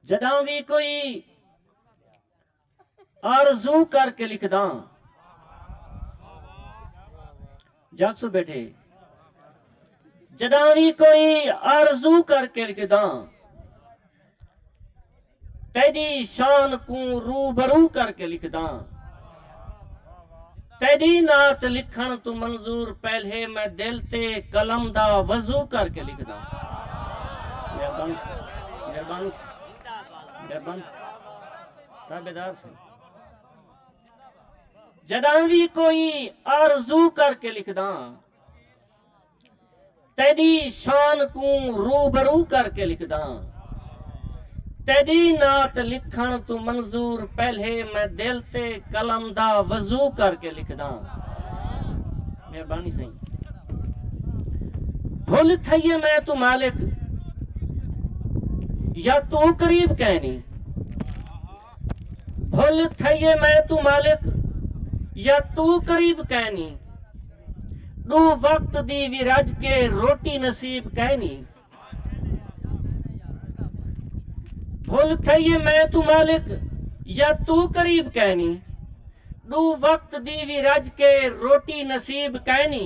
جݙاں وی کوئی آرزو کر کے لکھداں جاگ سو بیٹھے جݙاں وی کوئی آرزو کر کے لکھداں تیڈی شان کوں روبرو کر کے لکھداں تیڈی نعت لکھن تو منظور پہلے میں دل تے قلم دا وضو کر کے لکھ دا مہربان مہربان مہربان تابدار سے جداں بھی کوئی آرزو کر کے لکھ دا تیݙی شان کوں روبرو کر کے لکھداں۔ تیݙی نعت لکھݨ توں منظور پہلے میں دل تے قلم دا وضو کر کے لکھداں۔ مہربانی سئیں۔ بھل تھئیے میں توں مالک یا توں قریب کینی۔ بھل تھئیے میں توں مالک یا تو قریب کینی ڈو وقت دی وی رج کے روٹی نصیب کینی بھل تھئیے میں توں مالک یا تو قریب کینی ڈو وقت دی وی رج کے روٹی نصیب کینی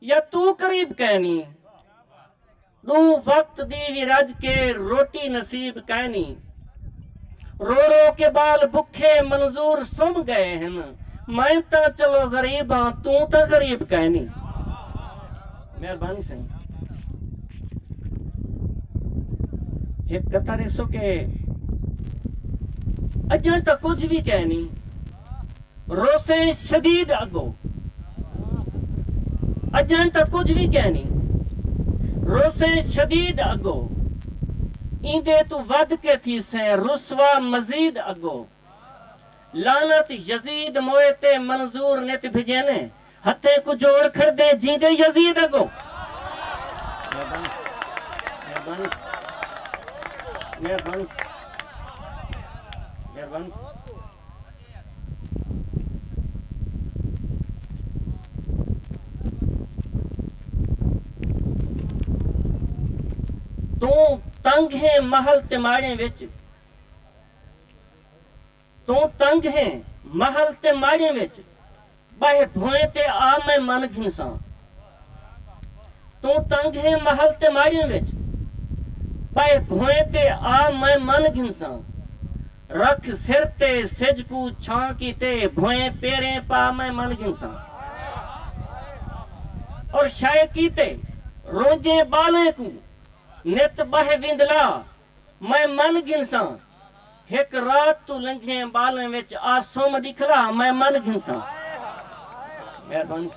یا توں قریب کائنی۔ ݙوں وقت دی وی رڄ کے روٹی نصیب کائنی۔ رو رو کے ٻال بکھے منظور سم ڳئے ہن۔ میں تاں چلو غریب آں توں تاں غریب کائنی۔ مہربانی سئیں۔ ہک قطع ݙیسو کہ اڄݨ تاں کجھ وی کائنی۔ روسیں شدید اگو اجاں تاں کجھ وی کینی روسیں شدید اگو ایندے توں ودھ کے تھیسیں رسوا مزید اگو لعنت یزید موئے تے منظور نت بھجینے ہتھیں کوں جوڑ کھڑدے جیندے یزید اگوں۔ توں تنگ ہیں محل تماڑیں وچ۔ توں تنگ ہیں محل تے ماڑیں وچ ٻہہ بھوئیں تے آ میں من گھنساں توں تنگ ہیں محل تے ماڑیں وچ ٻہہ بھوئیں تے آ میں من گھنساں رکھ سر تے سجھ کوں چھاں کیتے بھوئیں پیریں پا میں من گھنساں اور شے کیتے رونجھیں ٻالیں کوں نت ٻہہ وندلا میں من گھنساں ہک رات توں لنگھیں ٻالیں وچ آ سم ݙکھلا میں من گھنساں مہربانی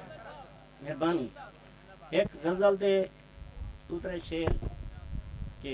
مہربانی ہک غزل دے دو ترے شعر کہ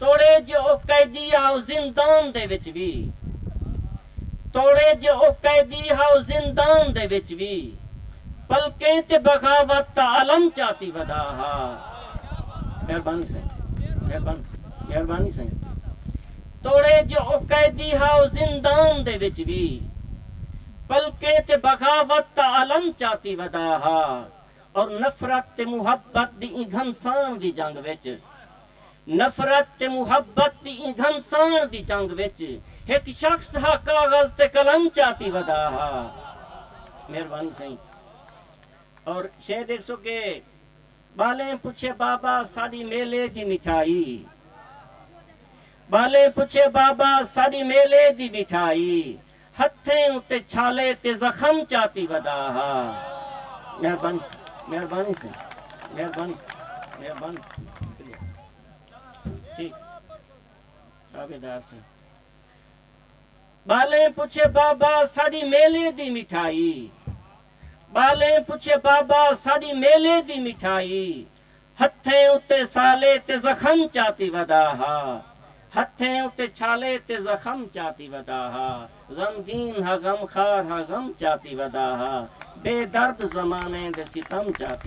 توڑے جو او قیدی ہاؤ زندان دے وچ وی توڑے جو او قیدی ہاؤ زندان دے وچ وی پلکیں تے بغاوت دا علم چاتی ودھا ہا مہربانی سائیں مہربانی سائیں توڑے جو او قیدی ہاؤ زندان دے وچ وی پلکیں تے بغاوت دا علم چاتی ودھا ہا اور نفرت تے محبت دی ایں گھمسان دی جنگ وچ نفرت تے محبت دی ایں گھمسان دی جنگ وچ ہک شخص ہا کاغذ تے قلم چاتی ودا ہا مہربانی سئیں اور شعر دیکھ سو کہ بالیں پچھے بابا ساڈی میلے دی مٹھائی بالیں پچھے بابا ساڈی میلے دی مٹھائی ہتھیں اتے چھالے تے زخم چاتی ودا ہا۔ مہربانی سئیں۔ مہربانی سئیں۔ مہربانی سئیں۔ مہربانی سئیں۔ ٹھیک تابعدار سئیں۔ ٻالیں پچھے بابا ساݙی میلے دی مٹھائی۔ ٻالیں پچھے بابا ساݙی میلے دی مٹھائی۔ ہتھیں اتے سالے تے زخم چاتی ودا ہا ہتھیں اتے چھالے تے زخم چاتی ودا ہا غمگین ہا غمخوار ہا غم چاتی ودا ہا بے درد زمانے دے ستم چاتی